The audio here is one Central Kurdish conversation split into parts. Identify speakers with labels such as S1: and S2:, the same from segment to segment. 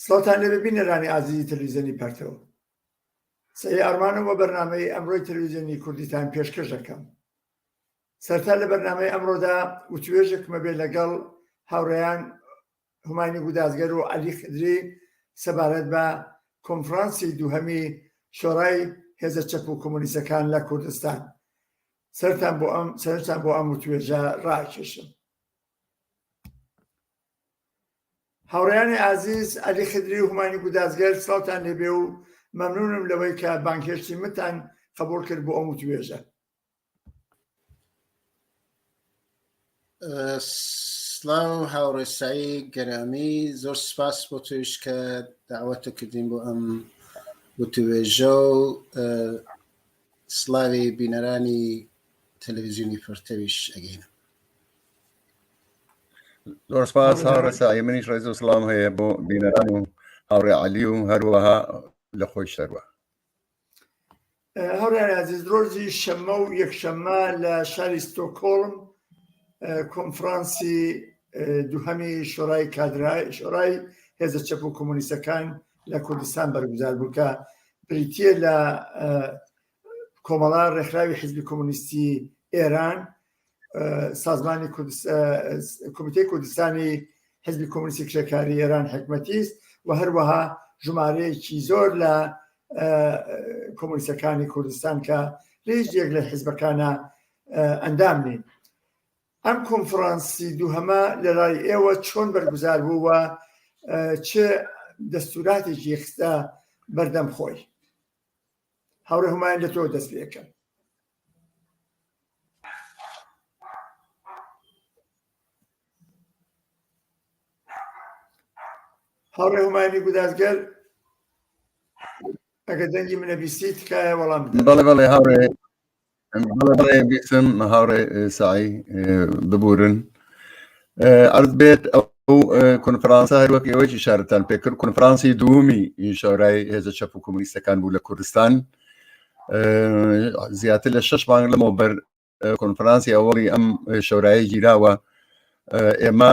S1: سڵاوتان لێبێ بینەرانی ئازیزی تەلەویزیۆنی پەرتەوە سەری ئارمانم و بەرنمەی ئەمڕۆی تەلەویزیۆنی کوردیتان پێشکەش دەکەم سەرتا لە بەرنمەی ئەمڕۆدا وتوێژێکمە بێ لەگەڵ هاوڕێیان هومانی بودازگەر و علی خدری سەبارەت بە کۆنفرانسی دووهەمی شۆڕای هێزە چەپ و کۆمۆنیسەکان لە کوردستان سەرتان بۆ ئەم سەرتان بۆ ئەم وتوێژە ڕاکێشم هاوڕێیانی ئازیز عەلی خدری و هومانی گودازگەر سڵاوتان لێبێ و مەمنونم لەوەی کە بانگهێشتی منتان قبوڵ کرد بۆ ئەم وتوێژە
S2: سلاو هاوڕێسایی گەرامی زۆر سپاس بۆ توش کە داوەتە کردین بۆ ئەم وتوێژە و سلاوی بینەرانی تەلەڤزیۆنی پرتەویش ئەگەینم
S3: زۆر سپاس هاوڕێ ساعی منیش ڕێز و سڵام هەیە بۆ بینەران و هاوڕێ علی و هەروەها لە خۆی سەروە
S1: هەوڕێ عزیز ڕۆژی شەمە و یەکشەمە لە شاری ستۆکۆڵم کۆنفرانسی دووهەمی شۆرای کادرای شۆرای هێزە چەپ و کۆمونیستەکان لە کوردستان بەرگزار بووکە بریتە لە کۆمەڵە ڕێکخراوی حزبی کۆمۆنیستی ئێران سازمانی کمیتی کوردستانی حزبی کۆمونیستی کرێکاری ئێران حکمەتیست و هەروەها ژمارەیەکی زۆر لە کۆمونیستەکانی کوردستان کە لەیش یەک لە حزبەکانە ئەندام نین ئەم کۆنفرانسی دووهەمە لە لای ئێوە چۆن بەرگوزار بووە چ دەستوراتێکی خستە بەردەم خۆی هاوڕێ هومایان لە تۆ دەست پێکەم هاوڕێ هومایانی گودازگەر ئەگە دەنگی منە بیستی تکایە وەڵام بەڵێ بەڵێ هاوڕێ
S3: بیسم هاوڕێ سعی ببورن ئەرز بێت ئەو کنفرانسە هەروەک ئێوەی شارتان پێکرد کنفرانسی دوومی شارای هێزە چەپ و کۆمونیستەکان بوو لە کوردستان زیاتر لە شش مانگ لەمەوە بەر کنفرانسی ئەوەڵی ئەم شۆرایە گیراوە ئێمە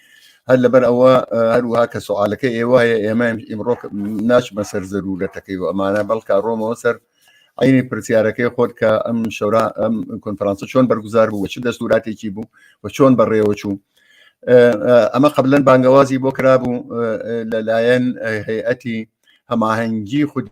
S3: هەر لەبەر ئەوە هەروها کە سوالەکە ئێوایە ئێمە ئیمڕۆ ناچمە سەر زەرورەتەکەی و ئەمانە بەڵکە ڕۆمەوە سەر عینی پرسیارەکەی خۆت کە ئەم شەورا ئەم کۆنفرانسە چۆن بەرگزار بوو چ دەستوراتێکی بوو و چۆن بەڕێوە چوو ئەمە قبلەن بانگەوازی بۆ کرابوو لەلایەن هەیئەتی هەماهەنگی خودی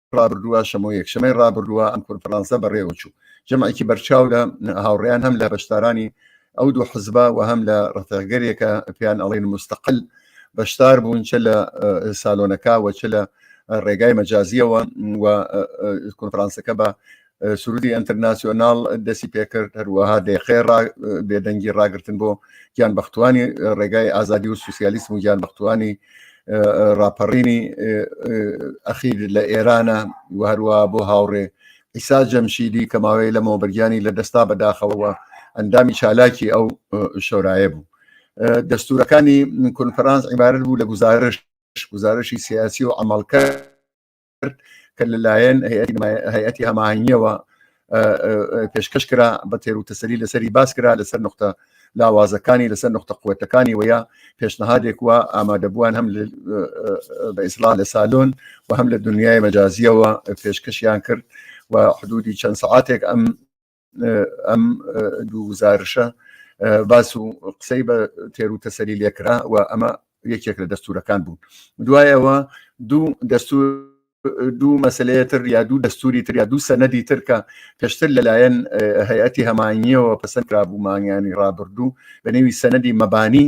S3: ڕابردووە شەمۆ یەکشەمەی ڕابردووە ئەم کۆنفرانسە بەڕێوە چوو جەمعێکی بەرچاو لە هاوڕێیان هەم لە بەشدارانی ئەو دوو حزبە و هەم لە ڕفێگەرێکە پێیان ئەڵین مستەقل بەشدار بوون چ لە سالۆنەکە و چ لە ڕێگای مەجازیەوە و کۆنفرانسەکە بە سرودی ئەتەرناسیۆناڵ دەسی پێکرد هەروەها دەیقێ بێدەنگی ڕاگرتن بۆ گیان بەختوانی ڕێگای ئازادی و سوسیالیسم و گیان بەختوانی ڕاپەڕینی ئەخیر لە ئێرانە و هەروە بۆ هاوڕێ ئیسا جەمشیدی کە ماوەی لە مۆبەرگیانی لە دەستا بەداخەوەوە ئەندامی چالاکی ئەو شۆرایە بوو دەستورەکانی کونفرانس عیبارەت بوو لە گزارش گزارشی سیاسی و ئەمەڵکە کرد کە لەلایەن هەیەتی هەماهنگیەوە پێشکەش کرا بە تێر و تەسەری لەسەری باس کرا لەسەر نقطە لاوازەکانی لەسەر نقطە قوتەکانی وەیە پێشنەهادێک وە ئامادەبووان هەم بە ئیسلا لە سالۆن و هەم لە دنیای مەجازیەوە پێشکەشیان کرد و حدودی چەند سعاتێک ئەم ئەم دوو گزارشە باس و قسەی بە تێر و تەسەری لێکرا و ئەمە یەکێک لە دەستورەکان بوون دوایەوە دوو دەستور دوو مەسلەیە تر یا دوو دەستوری تر یا دوو سەنەدی تر کە پێشتر لەلایەن هەیەتی هەمانیەوە پسند کرابوو مانگیانی ڕابردوو بە نێوی سەنەدی مەبانی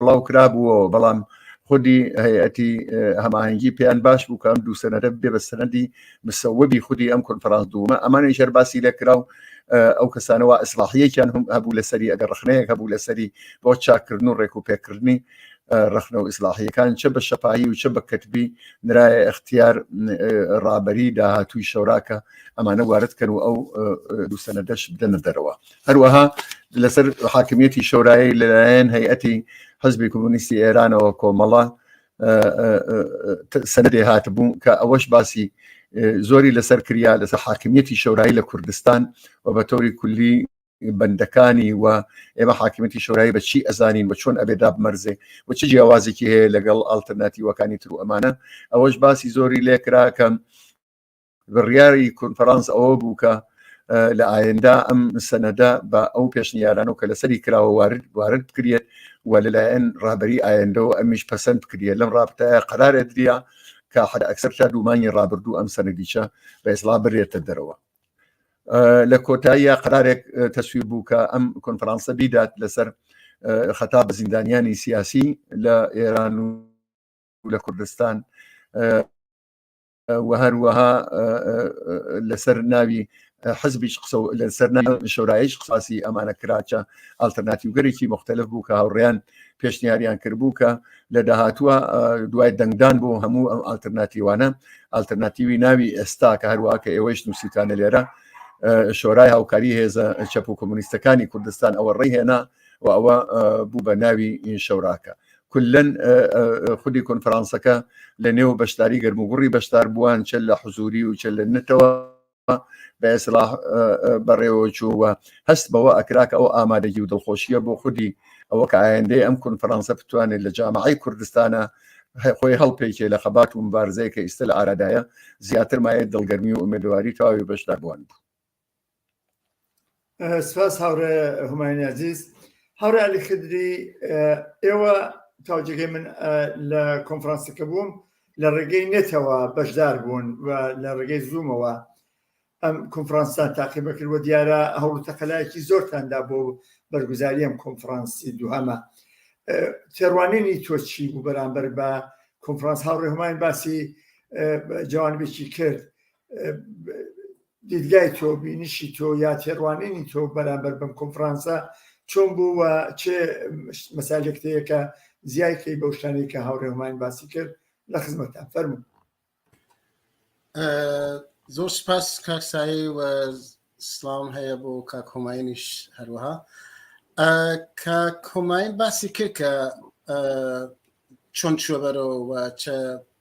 S3: بڵاو کرابووەوە بەڵام خودی هەیەتی هەماهنگگی پێیان باش بوو کەم دوو سەنەرە بێ بە سەنەدی مسەوەبی خودی ئەم کۆنفرانس دوومە ئەمانی ژەر باسی لە کراو ئەو کەسانەوە ئەسلاحیەکیان هم هەبوو لەسەری ئەگەر ڕخنەیەک هەبوو لەسەری بۆ چاکردن و ڕێک و پێکردنی ڕخنە و ئیسلاحیەکان چە بە شەپایی و چە بە کەتبی نرایە اختیار ڕابەری داهاتووی شەوراکە ئەمانە وارد کەن و ئەو دوو سەنەدەش بدەنە دەرەوە هەروەها لەسەر حاکمیەتی شۆرایی لەلایەن هەیئەتی حزبی کۆمونیستی ئێرانەوە کۆمەڵە سندێ هاتبوو کە ئەوەش باسی زۆری لەسەر کریا لەسەر حاکمیەتی شۆرایی لە کوردستان و بە تۆری کولی بەندەکانی و ئێمە حاکمەتی شۆرای بە چی ئەزانین و چۆن ئەبێ دابمەرزێ و چ جیاوازێکی هەیە لەگەڵ ئالتەرناتیوەکانی تر و ئەمانە ئەوەش باسی زۆری لێکراکەم بڕیاری کۆنفرانس ئەوە بوو کە لە ئاەندا ئەم سەنەدە بە ئەو پێشنیارانەوە کە لەسەری کراوە وارد وارد بکرێت و لەلایەن ڕابری ئاەندەوە ئەمیش پەسەند بکرێت لەم ڕابتەیە قرارێت دریا کە حد ئەکسەر تا دوومانی ڕابردوو ئەم سەنەدیچە بە ئێسڵا برێتە دەرەوە لە کۆتاییە قرارێک تەسویر بوو کە ئەم کۆنفرانسە بیدات لەسەر خەتا بە زیندانیانی سیاسی لە ئێران و لە کوردستان و هەروەها لەسەر ناوی حزبیش قسە لەسەر شورایش قساسی ئەمانە کراچە ئالتەرناتیوگەرێکی مختلف بوو کە هاوڕیان پێشنیاریان کردبوو کە لە داهاتوە دوای دەنگدان بۆ هەموو ئەم ئالتەرناتیوانە ئالتەرناتیوی ناوی ئێستا کە هەروە کە ئێوەش نووسیتانە لێرە شۆرای هاوکاری هێزە چەپ و کۆمونیستەکانی کوردستان ئەوە ڕێهێنا و ئەوە بوو بە ناوی شەوراکە کلەن خودی کۆنفرانسەکە لە نێو بەشداری گەرموگوڕی بەشدار بووان چە لە حزوری و چە لە نتەوە بە ئێسلا بەڕێوە چووە هەست بەوە ئەکراکە ئەو ئامادەگی و دڵخۆشیە بۆ خودی ئەوە کە ئایندەی ئەم کونفرانسە بتوانێت لە جامعی کوردستانە خۆی هەڵپێکێ لە خەبات و مبارزەیە کە ئیستا لە ئارادایە زیاتر مایە دڵگەرمی و ئومێدواری تەواوی بەشداربووان بوو
S1: سپاس هاوڕێ هوماینی عزیز هاوڕێ علی خدری ئێوە تاوجێگەی من لە کۆنفرانسەکە بووم لە ڕێگەی نێتەوە بەشدار بوون و لە ڕێگەی زوومەوە ئەم کۆنفرانسان تاقیبە کردوە دیارە هەوڵ تەقەلایەکی زۆرتاندا بۆ بەرگزاری ئەم کۆنفرانسی دوهەمە تێڕوانینی تۆ چی بوو بەرامبەر بە کۆنفرانس هاوڕێ هەمان باسی جوانبێکی کرد دیدگای تۆ بینشی تۆ یا تێڕوانینی تۆ بەرامبەر بم کۆنفرانسە چۆن بوو و چێ مەساجێکتەیەکە زیایکەی بەو شتانی کە هاوڕێمان باسی کرد لە خزمەتان فەرمو
S2: زۆر سپاس کاکسایی و سلام هەیە بۆ کاک هۆماینیش هەروەها کە کۆماین باسی کرد کە چۆن چوە بەرەوە چە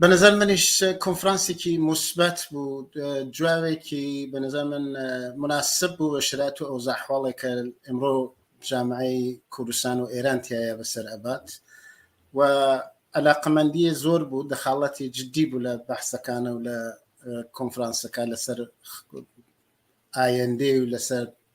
S2: بە نظر منیش کۆنفرانسێکی مثبت بوو جوابێکی بە نظر من مناسب بوو بە شرات و ئەو زاحواڵێکە ئەمڕۆ جامعی کوردستان و ئێران تایە بەسەر ئەبات و علاقەمەندیە زۆر بوو دەخاڵەتی جددی بوو لە بەحسەکانە و لە کۆنفرانسەکە لەسەر ئایندێ و لەسەر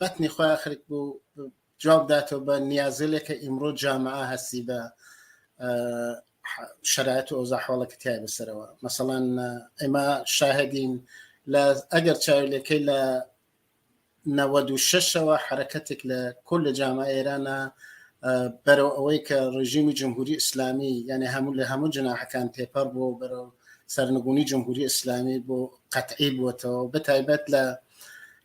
S2: بەتنی خۆی ئاخرک بوو جواب داتەوە بە نیازلێک کە ئیمڕۆ جامعە هەستی بە شرایەت و ئەوزا حواڵەکە تای بەسەرەوە مەسەڵان ئێمە شاهدین لە ئەگەر چاویلەکەی لە 96ەوە حرەکەتێک لە کل لە جامعە ئێرانە بەرەو ئەوەی کە ڕژیمی جمهوری ئیسلامی یعنی هەموو لە هەموو جناحەکان تێپەر بۆ بەرەو سەرنگونی جمهوری ئیسلامی بۆ قەتعی بووەتەوە بە تایبەت لە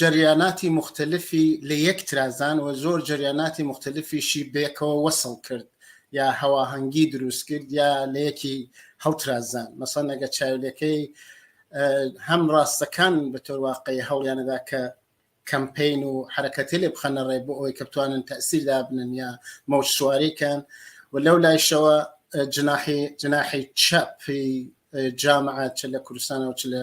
S2: جەریاناتی موختەلفی لە یەک ترازان و زۆر جەریاناتی موختەلفیشی بەیەکەوە وەسڵ کرد یا هەواهەنگی دروست کرد یا لە یەکی هەڵترازان مەسەن ئەگە چاویلەکەی هەم ڕاستەکان بە تۆر واقعی هەوڵیانەدا کە کەمپین و حرەکەتی لێ بخەنە ڕێ بۆ ئەوی کە بتوانن تەسیر دابنن یا مەوج سوارێکان و لەو لایشەوە جناحی جناحی چەپی جامعە چ لە کوردستانەوە چ لە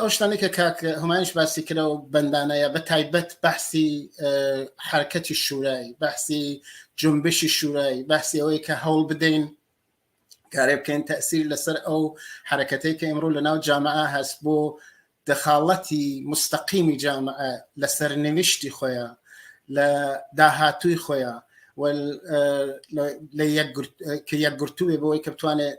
S2: ئەو شتانی کە کاک هەمایش باسی کرا و بەندانەیە بە تایبەت بەحسی حرکەتی شوورایی بەحسی جنبشی شوورایی بەحسی ئەوەی کە هەوڵ بدەین کارێ بکەین تەسیر لەسەر ئەو حرکەتەی کە ئمڕوو لە ناو جامعە هەست بۆ دەخاڵەتی مستەقیمی جامعە لە سەرنویشتی خۆیان لە داهاتووی خۆیان کە یەکگرتووێ بۆی کە بتوانێت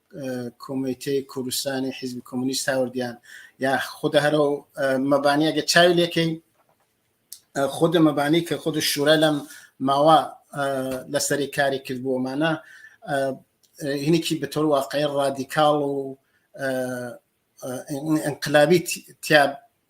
S2: کۆمیتەی کوردستانی حیزبی کۆمونیست هاوردیان یا خودە هەرو مەبانیەگە چاوی لێکەین خودە مەبانی کە خود شورا لەم ماوە لەسەری کاری کرد بۆمانە هینێکی بەتۆر واقعی ڕادیکاڵ و انقلابی تیا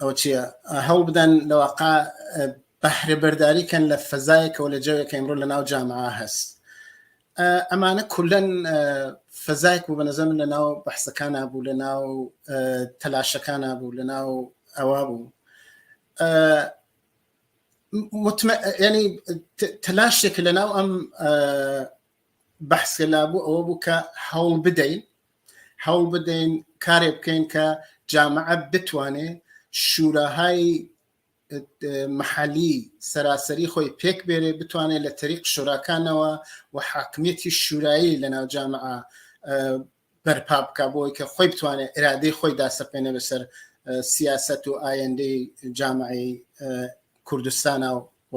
S2: ئەو چیە هەوڵ بدەن لەواقع بەهرە بەرداری کەن لە فەزایەکەەوە لە جەوێکە ئەمڕۆ لە ناو جامعە هەست ئەمانە کولەن فەزایك بوو بە نەزەم لە ناو بەحسەکانە بوو لە ناو تەلاشەکانە بوو لە ناو ئەوا بوو ینی تەلاشێک لە ناو ئەم بەحسکە لابوو ئەوە بوو کە هەوڵ بدەین هەوڵ بدەین کارێ بکەین کە جامعە بتوانێ شوراهای محلی سەراسەری خۆی پێک بێرێ بتوانێت لە تەریق شوراکانەوە و حاکمیەتی شورایی لە ناو جامعە بەرپا بکە بۆی کە خۆی بتوانێت ئرادەی خۆی داسەپێنە بەسەر سیاست و ئایندەی جامعی کوردستانە و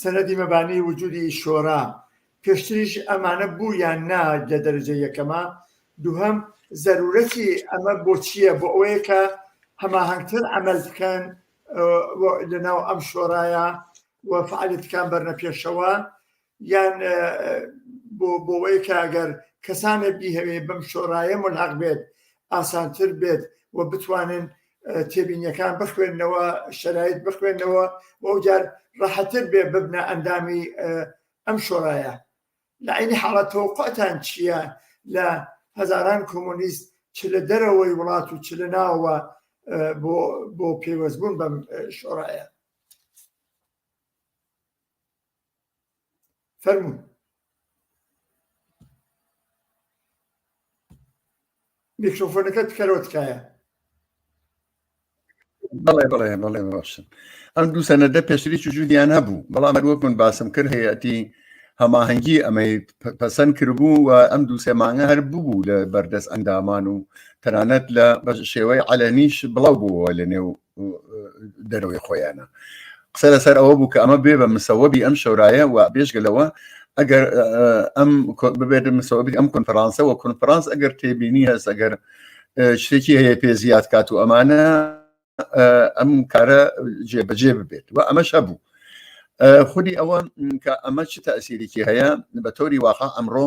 S1: سەنەدی مەبانی وجودی شۆرا، پێشتریش ئەمانە بوو یان نا لە دەرەجە یەکەما؟ دووهەم، زەرورەتی ئەمە بۆ چییە؟ بۆ ئەوەیە کە هەماهەنگتر عەمەل بکەن لەناو ئەم شۆرایە و فەعالیەتەکان بەرنە پێشەوە یان بۆ بۆوەی کە ئەگەر کەسانێک بیهەوێ بەم شۆرایە ملحق بێت ئاسانتر بێت و بتوانن تێبینیەکان بخوێندنەوە شەرایت بخوێندنەوە بۆ جار ڕەحەتر بێ ببنە ئەندامی ئەم شۆڕایە لە عینی حاڵەت تۆقعتان چییە لە هەزاران کۆمۆنیست چ لە دەرەوەی وڵات و چ لە ناوە بۆ پێوەستبوون بەم شۆڕایە فەرموون میکرۆفۆنەکە تکەرەوە تکایە
S3: بەڵێ بڵێ بڵێ باشن ئەم دوو سەنەدە پێشتری چجودیان هەبوو بەڵام هەروەک من باسم کرد هەیەتی هەماهەنگی ئەمەی پەسەند کردبوو و ئەم دوو سێ مانگە هەر ببوو لە بەردەست ئەندامان و تەنانەت لە شێوەی علەنیش بڵاو بووەوە لە نێو دەرەوەی خۆیانە قسە لەسەر ئەوە بوو کە ئەمە بێ بە مسەوەبی ئەم شەورایە و بێژگە لەوە ئەگەر ئەم ببێت مسەوەبی ئەم کنفرانسەوە کنفرانس ئەگەر تێبینی هەست ئەگەر شتێکی هەیە پێ زیاد کات و ئەمانە ئەم کارە جێبەجێ ببێت و ئەمەش هەبوو خودی ئەوە کە ئەمە چ تاسیرێکی هەیە بە تۆری واقع ئەمڕۆ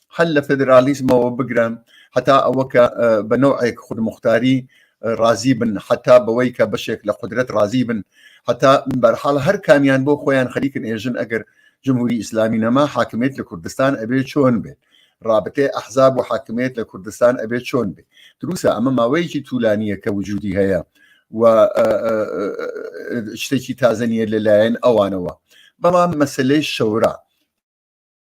S3: هەل لە فدرالیزمەوە بگرن هەتا ئەوە کە بە نەوەک خودمختاری رازی بن حتا بەوەی کە بەشێک لە قدرەت رازی بن هەتا بەرحاڵ هەر کامیان بۆ خۆیان خەریکن ئێژن ئەگەر جمهوری ئیسلامی نەما حاکمێت لە کوردستان ئەبێ چۆن بێت رابطێ ئەحزاب و حاکمێت لە کوردستان ئەبێ چۆن بێ دروسە ئەمە ماوەیەکی تولانیە کە وجودی هەیە و شتێکی تازەنیە لەلایەن ئەوانەوە بەڵام مەسلەی شەورا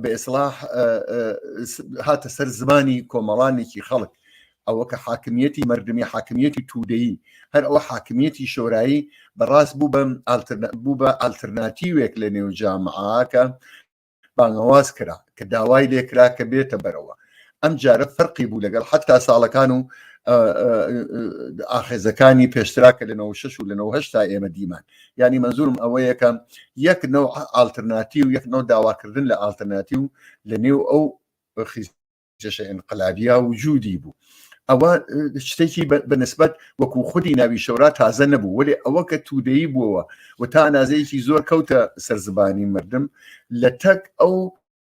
S3: بە ئێسلاح هاتە سەر زمانی کۆمەڵانێکی خەڵک ئەوە کە حاکمیەتی مردمی حاکمیەتی تودەیی هەر ئەوە حاکمیەتی شۆرایی بەڕاست بوو بەم بوو بە ئالترناتیوێک لە نێو جامعاکە بانگەواز کرا کە داوای لێکرا کە بێتە بەرەوە ئەم جارە فەرقی بوو لەگەڵ حتا ساڵەکان و ئاخێزەکانی پێشترا کە لە 96 و لە 9 تا ئێمە دیمان ینی مەزورم ئەوە یەکەم یەک نەوە ئالترناتی و یەک نەوە داواکردن لە ئالترناتی و لە نێو ئەو خیزشە ئەنقلابیا و جوودی بوو ئەوە شتێکی بەنسبت وەکو خودی ناوی شەورا تازە نەبوو وەێ ئەوە کە تودەی بووەوە و تا نازەیەکی زۆر کەوتە سەرزبانی مردم لە تەک ئەو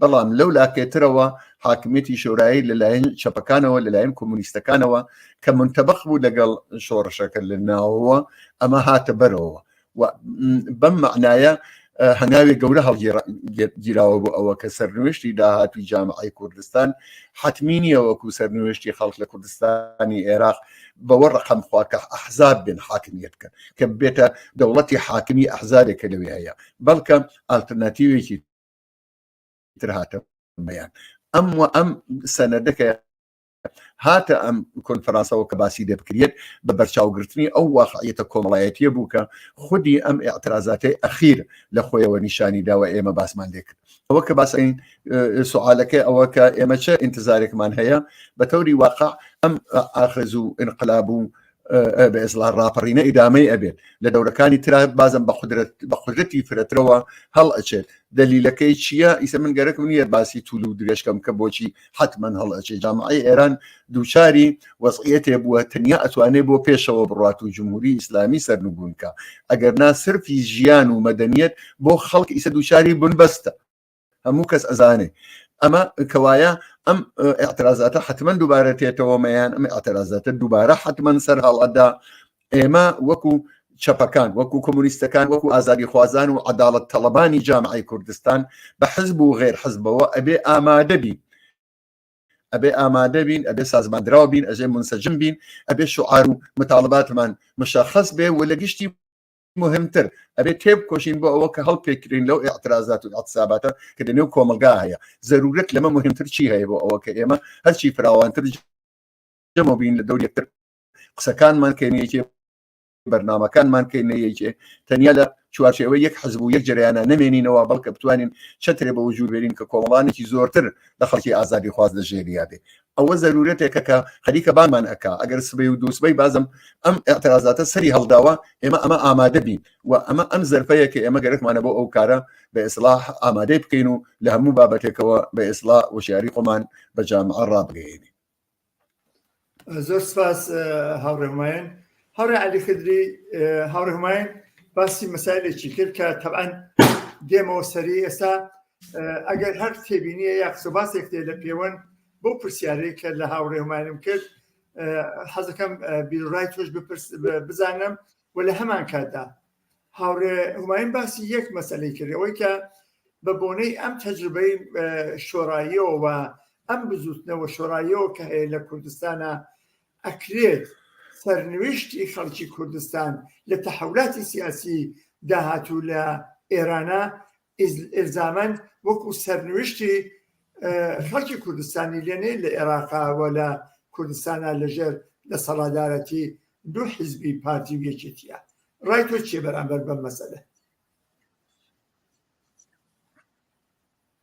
S3: بەڵام لەو لاکێترەوە حاکمیەتی شۆرایی لەلایەن چەپەکانەوە لەلایەن کۆمونیستەکانەوە کە منتەبق بوو لەگەڵ شۆڕشەکە لە ناوەوە ئەمە هاتە بەرەوە بەم معنایە هەناوێ گەورە هەڵگیراوە بۆ ئەوە کە سەرنوێشتی داهاتوی جامعی کوردستان حتمی نیە وەکو سەرنوێشتی خەڵک لە کوردستانی عێراق بەوە ڕقم خوا کە ئەحزاب بن حاکمیت کە کە بێتە دەوڵەتی حاکمی ئەحزارێکە لەوێ هەیە بەڵکە ئالتەرناتیوێکی تر هاتە بەیان ئەم و ئەم سەنەدەکە هاتە ئەم کۆنفرانسەوە کە باسی لێ بکرێت بە بەرچاوگرتنی ئەو واقعیەتە کۆمەڵایەتیە بوو کە خودی ئەم اعترازاتەی ئەخیر لە خۆیەوە نیشانی داوە ئێمە باسمان لێ کرد ئەوە کە باسین سوعاالەکەی ئەوە کە ئێمە چه ئینتزارێکمان هەیە بە تەوری واقع ئەم ئاخز و انقلاب و بێزڵا ڕاپەڕینە ئیدامەی ئەبێت لە دەورەکانی تررا بازم بە قدرت بە قدرەتی فرەترەوە هەڵ ئەچێت دەلیلەکەی چییە ئیسە من گەرەکم نییە باسی تول و درێژکەم کە بۆچی حتمما هەڵ ئەچێت جامعی ئێران دووچاری وەزعەتێ بووە تەنیا ئەتوانێت بۆ پێشەوە بڕات و جمهوری ئیسلامی سەرنگونکە ئەگەر ناسرفی ژیان و مەدەنیت بۆ خەڵک ئیسە دووچاری بنبەستە هەموو کەس ئەزانێ ئەمە کەوایە ئەم اعترازاتە حتمما دووبارە تێتەوەمەیان ئەم اعترازاتە دووبارە حتمما سەر هەڵەدا ئێمە وەکو چەپەکان وەکو کۆمونیستەکان وەکو ئازادی خوازان و عداڵت تەڵەبانی جامعی کوردستان بە حزب و غێر حزبەوە ئەبێ ئامادەبی ئەبێ ئامادە بین ئەبێ سازماندراو بین ئەژێ منسەجم بین ئەبێ شعار و مطالباتمان مشخص بێ و لە گشتی مهمتر ئەبێ تێبکۆشین بۆ ئەوە کە هەڵپێکرین لەو اعترازات و اعتصاباتە کە لەنێو کۆمەلگا هەیە زەرورەت لەمە مهمتر چی هەیە بۆ ئەوە کە ئێمە هەرچی فراوانتر جەمە بین لە دەور یەکتر قسەکانمان کەینەیەکێ بەرنمەکانمان کەینەیەکێ تەنیا لە چوارچەوە یەک حزب و یەک جریانە نمێنینەوە بەڵکە بتوانین چەترێ بە وجود بێنین کە کۆمەڵانێکی زۆرتر لە خەڵکی ئازادی خواز لە ژێریا بێ ئەوە زەرورەتێکە کە خەریکە بانمان ئەکا ئەگەر سبەی و دووسبەی بازم ئەم ئەترازاتە سەری هەڵداوە ئێمە ئەمە ئامادە بین و ئەمە ئەم زەرفەیە کە ئێمە گەرەکمانە بۆ ئەو کارە بە ئێسلاح ئامادەی بکەین و لە هەموو بابەتێکەوە بە ئێسلا وشیاری خۆمان بە جامعە ڕابگەێنین
S1: زۆر سپاس هاوڕێمایەن هاوڕێ عەلی خدری هاوڕێ هوماین باسی مەسایلێکی کرد کە تەبعەن دێمەوە سەری ئێستا ئەگەر هەر تێبینیە یا قسە باسێک تێ لە پێوەن بۆ پرسیارێک کە لە هاوڕێ هوماینم کرد حەزەکەم بیرڕای تۆش بزانم و لە هەمان کاتدا هاوڕێ هوماین باسی یەک مەسلەی کرد ئەوەی کە بە بۆنەی ئەم تەجربەی شۆڕاییەوە ئەم بزوتنەوە شۆڕاییەوە کە هەیە لە کوردستانە ئەکرێت سەرنوێشتی خەڵکی کوردستان لە تەحولاتی سیاسی داهاتوو لە ئێرانا ئیلزامەند وەکو سەرنوێشتی خەڵکی کوردستانی لێ نەیت لە ئێراقا و لە کوردستانە لەژێر دەسەڵادارەتی دوو حیزبی پارتی و یەکێتیە ڕای تۆ چیە بەرامبەر بەم مەسەلە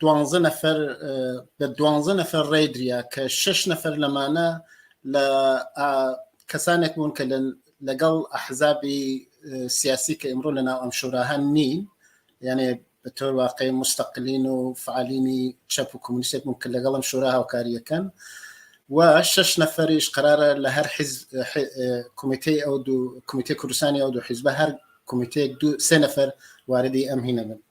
S2: دوانزە نەفەر بە دوانزە نەفەر ڕێدریا کە شش نەفەر لەمانە لە کەسانێک بوون کە لەگەڵ ئەحزابی سیاسی کە ئمڕۆ لە ناو ئەم شوراهان نین یانێ بە تۆر واقعی مستەقلین و فعالینی چەپ و کمونیسێک بوون کە لەگەڵم شورا هاوکاریەکەن و شش نەفەریش قرارە لە هەر کمیتەی ئەو دوو کمیتە کوردستانی ئەو دوو حیزبە هەر کمیتەیەک دوو سێ نەفەر واردی ئەم هینە بن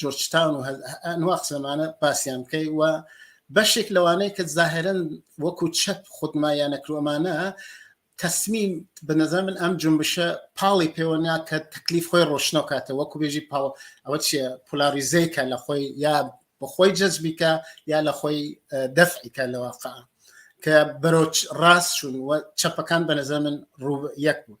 S2: جۆرجتان و ئەنوا قسەمانە پاسیان بکەی و بەشێک لەوانەیە کە زاهرن وەکو چەپ خودمایان نەکرۆمانە تەسمیم بە نەزە من ئەم جنبشە پاڵی پێوە ناکە تەکلیف خۆی ڕۆشنەوە کاتە وەکو بێژی پاڵ ئەوە چیە پولاریزەیکە لە خۆی یا بەخۆی جەزبیکە یا لە خۆی دەفعیکە لەواقع کە بەرۆچ ڕاست چوون و چەپەکان بە نەزە من ڕوو یەک بوون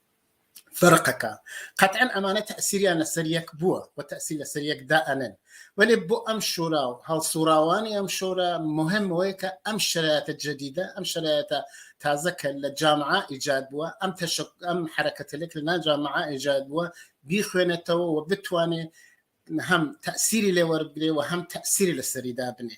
S2: فەرقەکە قەتعەن ئەمانە تەئسیریان لەسەر یەک بووە و تەئسیر لەسەر یەک دائەنن وەلێ بۆ ئەم شورا و هەڵسوڕاوانی ئەم شورا مهم وەیە کە ئەم شرایەتە جدیدە ئەم شرایەتە تازە کە لە جامعە ئیجاد بووە ئەم تەشک ئەم حرەکەتەلێک لە ناجامعە ئیجاد بووە بیخوێنێتەوە و بتوانێت هەم تەسیری لێوەرگێ و هەم تەسیری لەسەریدا بنێ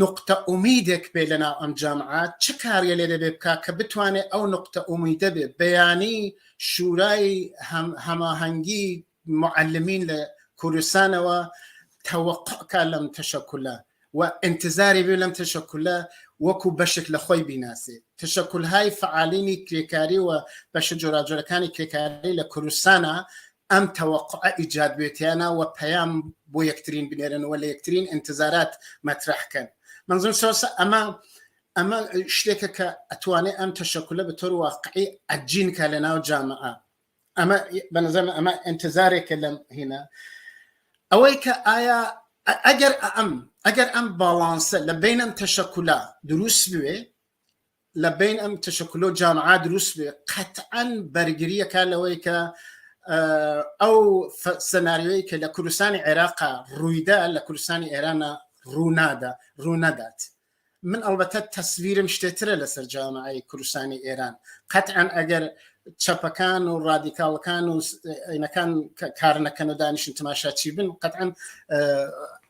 S2: نوقتە ئومیدێک بێ لەناو ئەم جامعە چ کاریە لێ دەبێ بکا کە بتوانێ ئەو نوقتە ئومیدە بێ بەیانی شورای هەماهەنگی معلمین لە کوردستانەوە تەوەقع کا لەم تەشەکولە و ئینتزاری بێ لەم تەشەکولە وەکو بەشێک لە خۆی بیناسێ تەشەکولهای فعالینی کرێکاری و بەشە جۆراجۆرەکانی کرێکاری لە کوردستانە ئەم تەوەقوعە ئیجاد بێتیانە و پەیام بۆ یەکترین بنێرن و لە یەکترین ئینتزارات مەترەح کەن منظوم سۆسە ئەمە ئەمە شتێکە کە ئەتوانێ ئەم تەشەکولە بە تۆر واقعی ئەجین کا لە ناو جامعە ئەمە بەنظرم ئەمە ئینتزارێکە لەم هینە ئەوەی کە ئایا ئەگەر ئەم ئەگەر ئەم باڵانسە لە بینەم تەشەکولا دروست بوێ لە بین ئەم تشکلۆ جامعا دروست بێ قەتعەن بەرگریەکە لەوەی کە ئەو سەناریۆی کە لە کوردستانی عێراقا ڕوویدا لە کوردستانی ئێرانە ڕوونادا ڕوونەدات من ئەڵبەتە تەسویرم شتێترە لەسەر جامعی کوردستانی ئێران قەتعەن ئەگەر چەپەکان و ڕادیکاڵەکان و عینەکان کار نەکەن و دانیشن تماشاچی بن قەتعەن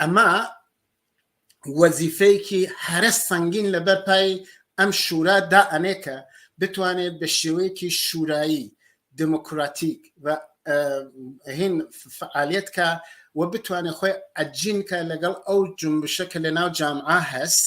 S2: ئەمە وەزیفەیەکی هەرە سەنگین لەبەر پای ئەم شورا دا ئەنێ کە بتوانێت بە شێوەیەکی شورایی دموکراتیک و هین فعالیت کە و بتوانێت خۆی ئەجینکە لەگەڵ ئەو جنبشە کە لە ناو جامعە هەست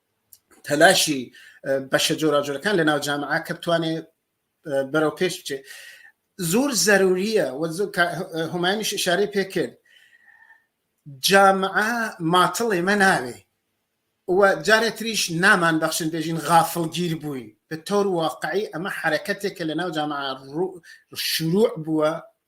S2: تەلاشی بەشە جۆراجۆرەکان لە ناو جامعە کە بتوانێ بەرەو پێش بچێ زۆر زەروریە هەمانیش شارەی پێکرد جامعە ماتڵێ مە ناوێ جارێ تریش نامان بەخشن بێژین غافڵگیر بووین بە تۆر واقعی ئەمە حرەکەتێک کە لە ناو جامعە شروع بووە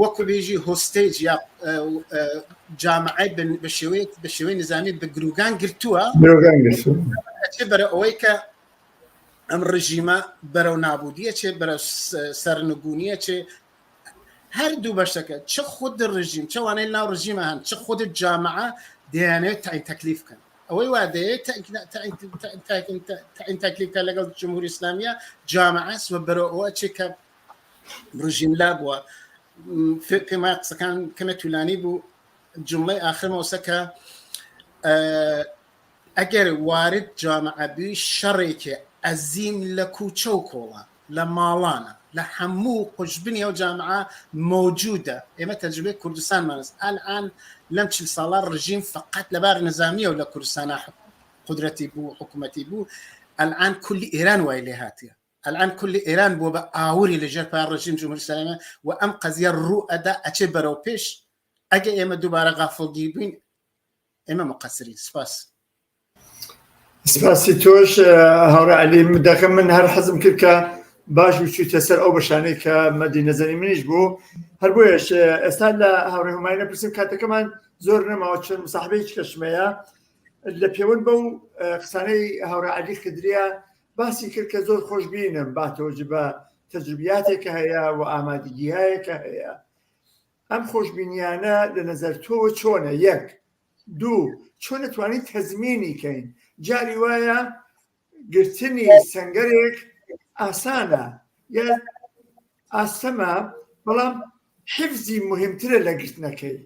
S2: وەکو بێژی هۆستەیج یا جامعی بە شێوەیەک بە شێوەی نظامی بە گروگان گرتووە بەرە ئەوەی کە ئەم ڕژیمە بەرەو نابودیە چێ بەرە سەرنگونیە چێ هەردوو بەشەکە چ خود ڕژیم چوانەی ناو ڕژیمە هەن چ خود جامعە دەیانێت تاین تەکلیف بکەن ئەوەی وادەیە تاین تەکلیفکە لەگەڵ جمهوری ئسلامیە جامعەس و بەرەوە چێ کە ڕژیم لا بووە فێک پێما قسەکان کەمە تولانی بوو جمڵی ئاخرمەوەسە کە ئەگەر وارد جامعەبی شەڕێکێ ئەزیم لە کوچە و کۆڵە لە ماڵانە لە هەموو قوشببنی ئەو جامعە مەوجودە ئێمە تەجربێ کوردستانمانست ئالان لەم چل ساڵە ڕژیم فقط لەبار نظامیە و لە کوردستانە قدرەتی بوو حکوومەتی بوو ئەلان کولی ئێران وای لێ هااتە ئەلئان کولی ئێران بوە بە ئاوری لە ژێر پای ڕژیم جمهوری ئیسلامی و ئەم قەزیە ڕو ئەدا ئەچێ بەرەو پێش ئەگە ئێمە دوبارە غافڵ گیر بین ئێمە مقەسرین سپاس.
S1: سپاسی تۆش هاوڕ علی دەکەم من هەر حەزم کرد کە باش وچوویتە سەر ئەو بەشانەی کە مەدی نەزەری منیش بوو هەر بۆیش ئێستا لە هاوڕێ هەماینە پرسیم کاتەکەمان زۆر نەماوە چەند مساحبەی کەشمەیە لە پێوەند بەو قسانەی هاوڕ علی خدرە باسی کرد کە زۆر خۆشبینم با تۆجبە تەجربیاتێکە هەیە و ئامادەگیایەکە هەیە ئەم خۆشببینیانە لە نظر تۆ چۆنە یەک دوو چۆن توانیت تەزمینی کەین جاری وایە گرتنی سنگەرێک ئاسانە یا ئاستەمە بەڵام حفزی مهمترە لە گرتنەکەی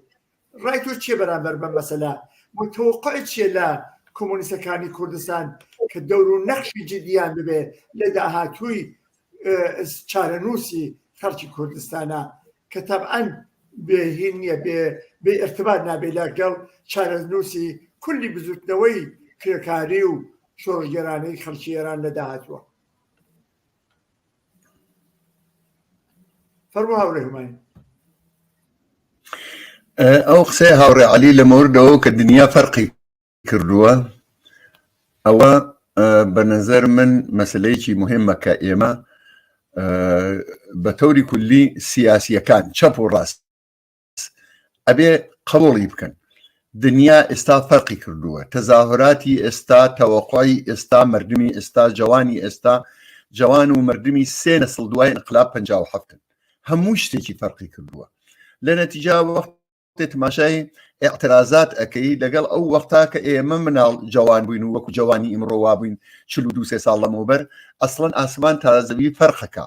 S1: ڕای تۆ چیە بەرامبەر بەم مەسەلە متوقعت چیە لە کۆمۆنیستەکانی کوردستان کە دەور و نەخشی جدیان ببێ لە داهاتووی چارەنووسی خەڵکی کوردستانە کە تەبعەن بێهین نییە بێ بێ ارتباط نابێ لەگەڵ چارەنووسی کولی بزوتنەوەی کرێکاری و شۆڕگەرانەی خەڵکی ئێران لە داهاتووە فەرموو هاوڕێ
S3: هوماین ئەو قسەی هاوڕێ علی لە مەوردەوە کە دنیا فەرقی کردووە ئەوە بە نظر من مەسلەیەکی مهمە کە ئێمە بە تەوری کولی سیاسیەکان چەپ و ڕاست ئەبێ قڕۆڵی بکەن دنیا ئێستا فەرقی کردووە تەزاهراتی ئێستا تەوەقعی ئێستا مردمی ئێستا جوانی ئێستا جوان و مردمی سێ نەسڵ دوای انقلا پ هەفتن هەموو شتێکی فەرقی کردووە لە نەتیجا وەخت تماشای اعترازات ئەەکەی لەگەڵ ئەو وەختا کە ئێمە مناڵ جوان بووین و وەکو جوانی ئیمڕۆوا بووین چلو دوسێ ساڵ لەمەوبەر ئەسڵەن ئاسمان تازەوی فەرقەکە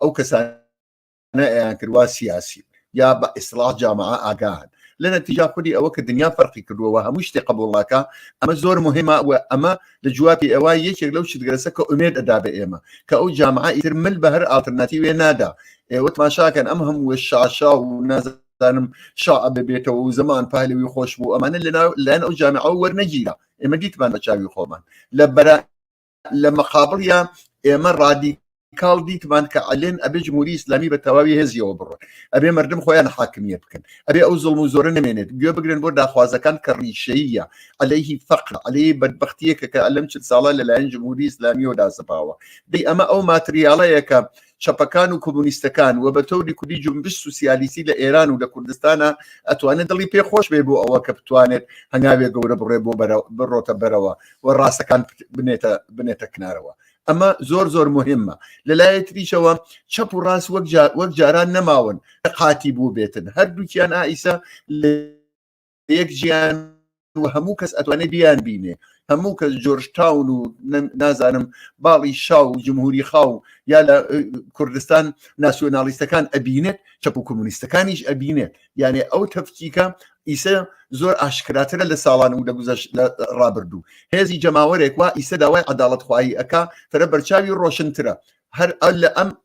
S3: ئەو کەسانە ئەیان کردوا سیاسی یا بە ئیسلاح جامعە ئاگان لە نەتیجا خودی ئەوە کە دنیا فەرقی کردووەوە هەموو شتێ قبولڵاکە ئەمە زۆر مهمە و ئەمە لە جوابی ئەوە یەکێک لەو شتگەرەسە کە ئومێد ئەدا بە ئێمە کە ئەو جامعە ئیتر مل بە هەر ئالترناتی وێ نادا ئێوە تماشاکەن ئەم هەموو شاشا و نازە دانم شا ببێتەوە و زمان پالەوی خۆش بوو ئەمانە لەناو لەن ئەو جامعەوە وەرنەگیرە ئێمە دیتمان بە چاوی خۆمان لە بەرا لە مەقابڵیا ئێمە ڕادی کاڵ دیتمان کە ئەلێن ئەبێ جمهوری ئسلامی بە تەواوی هێزیەوە بڕۆن ئەبێ مردم خۆیان حاکمیە بکەن ئەبێ ئەو زڵم و زۆرە نمێنێت گوێ بگرن بۆ داخوازەکان کە ڕیشەیە ئەلەیهی فەقر ئەلەی بەدبختیەکە کە ئەلم چل ساڵە لەلایەن جمهوری ئسلامیەوە داسەپاوە دی ئەمە ئەو ماتریاڵەیەکە چەپەکان و کۆمونیستەکان و بە تەوری کوردی جنبش سوسیالیستی لە ئێران و لە کوردستانە ئەتوانێت دڵی پێ خۆش بێ بۆ ئەوە کە بتوانێت هەنگاوێ گەورە بڕێ بۆ بڕۆتە بەرەوە و ڕاستەکان بنێتە بنێتە کنارەوە ئەمە زۆر زۆر مهمە لەلایە تریشەوە چەپ و ڕاست وەک وەک جاران نەماون قاتی بوو بێتن هەردووکیان ئایسە لە یەک جیان و هەموو کەس ئەتوانێت بیان بینێ هەموو کەس جۆرج تاون و نازانم باڵی شا و جمهوری خاو یا لە کوردستان ناسیۆنالیستەکان ئەبینێت چەپ و کۆمونیستەکانیش ئەبینێت یانێ ئەو تەفکیکە ئیسە زۆر ئاشکراترە لە ساڵان و لە گوزەش لە ڕابردوو هێزی جەماوەرێک وا ئیسە داوای عداڵت خواهی ئەک تەرە بەرچاوی ڕۆشنترە هەر ئەل لە ئەم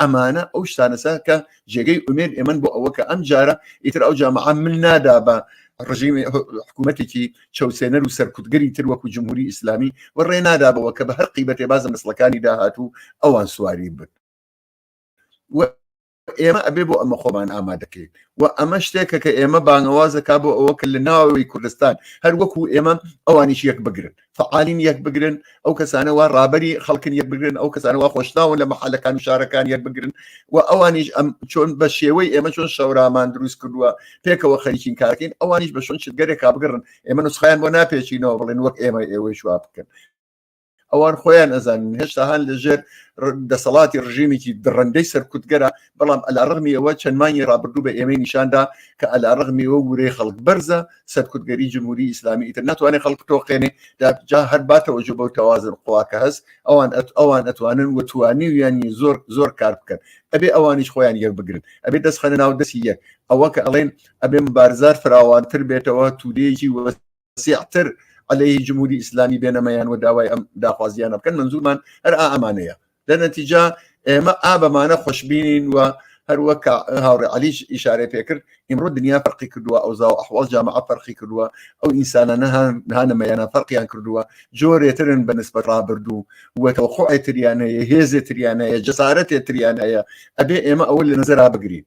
S3: ئەمانە ئەو شتانەسە کە جێگەی ئومێد ئێمن بۆ ئەوە کە ئەم جارە ئیتر ئەو جامعە من نادا بە ڕژیمی حکوومەتێکی چەوسێنەر و سەرکوتگەری تر وەکو جمهوری ئیسلامی و ڕێ نادابەوە کە بە هەر قیبەتێ بازە مسلەکانی داهات و ئەوان سواری بن ئێمە ئەبێ بۆ ئەمە خۆمان ئامادەکەین و ئەمە شتێکە کە ئێمە بانەوازەکە بۆ ئەوە کە لە ناوەوەی کوردستان هەر وەکو ئێمە ئەوانیش یەک بگرن فعالین یەک بگرن ئەو کەسانەوە ڕابری خەڵکن یەک بگرن ئەو کەسانەوە خۆشناون لە محلەکان و شارەکان یەک بگرن و ئەوانیش ئەم چۆن بە شێوەی ئێمە چۆن شەورامان دروست کردووە پێکەوە خەریکین کارکەین ئەوانیش بە شۆن شتگەرێک کابگەڕن ئێمە نسخیان بۆ ناپێچینەوە بڵێن وەک ئێمە ئێوەی شوا بکەن ئەوان خۆیان ئەزانن هێشتا هەان لەژێر دەسەڵاتی ڕژیمێکی دڕندەی سەرکوتگەرە بەڵام ئەلارغمی ئەوە چەند مانگی ڕابردوو بە ئێمەی نیشاندا کە ئەلارغمی و ورەی خەڵک بەرزە سەرکوتگەری جمهوری ئیسلامی ئیتر ناتوانێت خەڵک تۆقێنێ جا هەر باتەوە جۆ بەو تەوازن قوا کە هەست ئەوان ئەوان ئەتوانن و توانی و یانی زۆر زۆر کار بکەن ئەبێ ئەوانیش خۆیان یەک بگرن ئەبێ دەست خەنە ناو دەستی یەک ئەوە کە ئەڵێن ئەبێ بارزار فراوانتر بێتەوە تورێکی وەست واسیعتر عەلەیهی جمهوری ئیسلامی بێنەمەیان و داوای ئەم داخوازیانە بکەن منزورمان هەر ئامانەیە لە نەتیجا ئێمە ئابەمانە خۆشببینین و هەروەک هاوڕێ علیش ئیشارەی پێکرد ئیمڕۆ دنیا فەرقی کردووە ئەو زاو ئەحواڵ جامع فەرقی کردووە ئەو ئینسانانە هانەمەیانە فەرقیان کردووە جۆرێترن بە نسبەت ڕابردوو وەتەوەخۆێتریان هەیە هێزێتریان هەیە جەسارەتێتریان هەیە ئەبێ ئێمە ئەوە لە نظرا بگرین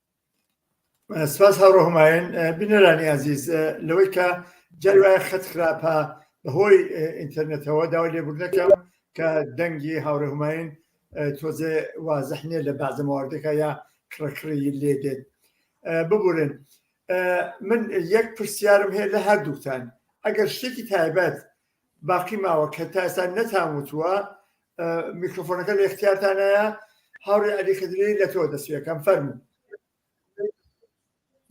S1: سپاس هاوڕۆ هەمایەن بینەرانی ئازیز لەوەی کە جاری وایە خەت خراپە بەهۆی ئینتەرنێتەوە داوا لێبوردنەکەم کە دەنگی هاوڕێ هەمایین تۆزێ وازح نیە لە بازە مواردەکە یا کڕکڕی لێ دێت ببورن من یەک پرسیارم هەیە لە هەردووکتان ئەگەر شتێکی تایبەت باقی ماوە کە تا ئێستا نەتان وتووە میکرۆفۆنەکە لە اختیارتانایە هاوڕێ علی خدری لە تۆ دەسوەکەم فەرمو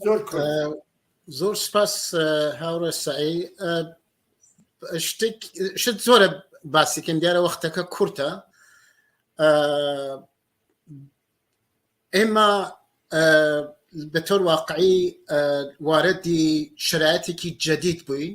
S2: زۆر زۆر سپاس هاوڕێ سعی شتێک شت زۆرە باسیکەم دیارە وەختەکە کورتە ئێمە بە تۆر واقعی واردی شرایەتێکی جەدید بووین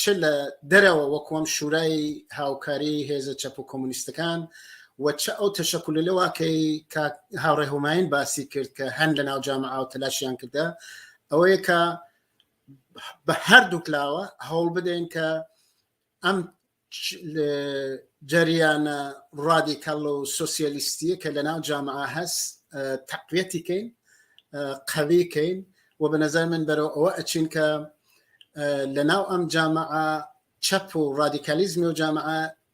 S2: چ لە دەرەوە وەکوەم شورای هاوکاری هێزە چەپ و کۆمونیستەکان و چ ئەو تەشەکل لەواکەی هاوڕێ هۆماین باسی کرد کە هەن لە ناو جامە ئاو تەلاشیان کردە ئەوەیە کە بە هەردووکلاوە هەوڵ بدەین کە ئەم جەریانە ڕادیکەڵ و سوسیالیستیە کە لە ناو جامع هەست تەقویەتی کەین قەوی کەین و بە نظر من بەرەوە ئەوە ئەچین کە لە ناو ئەم جامع چەپ و ڕادیکالیزمی و جامع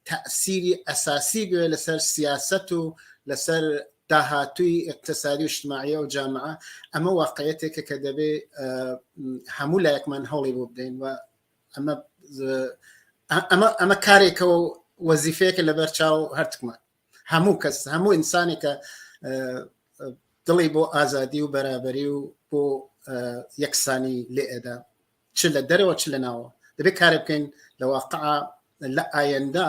S2: تەسیری ئەساسی بێ لەسەر سیاست و لەسەر داهاتوی اقتصادی و شتماعە و جامع ئەمە واقعەتێکە کە دەبێ هەموو لایەکمان هەوڵی بۆ بدەین و ئەمە ئەمە ئەمە کارێکە و وەزیفەیەکە لەبەر چاو هەرتکمان هەموو کەس هەموو ئینسانێکە دڵی بۆ ئازادی و بەرابەری و بۆ یەکسانی لێ ئێدا چ لە دەرەوە چ لە ناوە دەبێت کارە بکەین لە واقع لە ئایەندا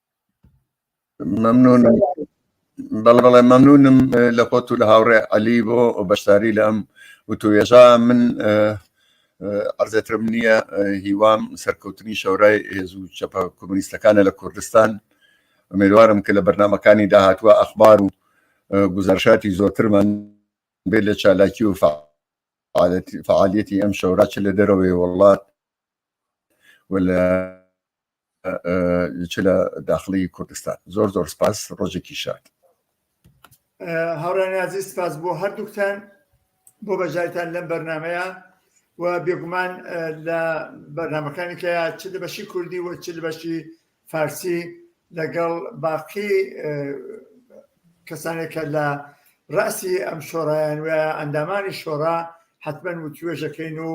S3: ممنون بەڵێ بەڵێ مەمنونم لە خۆت و لە هاوڕێ عەلی بۆ بەشداری لە ئەم وتوێژە من ئەرزێترم نییە هیوام سەرکەوتنی شەورای هێز و چەپە کۆمونیستەکانە لە کوردستان ئەمێوارم کە لە بەرنمەکانی داهاتوە ئەخبار و گوزارشاتی زۆرترمان بێ لە چالاکی و فعالیەتی ئەم شەورا چ لە دەرەوەی وڵات و لە چ لە داخڵی کوردستان زۆر زۆر سپاس ڕۆژێکی شاد. هاوڕێنی
S1: عزیز سپاس بۆ هەردووکتان بۆ بەژایتان لەم بەرنمەیە و بێگومان لە بەرنمەکانی کە چ لە بەشی کوردی و چ لە بەشی فارسی لەگەڵ باقی کەسانێکە لە ڕاستی ئەم شۆڕایان وە ئەندامانی شۆڕا حتمما وتوێژەکەین و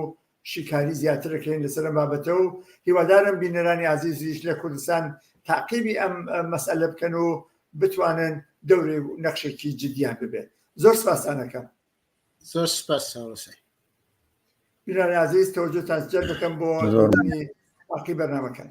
S1: شیکاری زیاتر دەکەین لەسەر ئەم بابەتە و هیوادارم بینەرانی ئازیزیش لە کوردستان تاقیبی ئەم مەسئلە بکەن و بتوانن دەوری و نەخشێکی جدیان ببێت زۆر سپاسانەکەم زۆر
S2: سپاس ساوەسەی
S1: بینەرانی ئازیز تەوەجۆتان جەر دەکەم بۆ باقی بەرنامەکان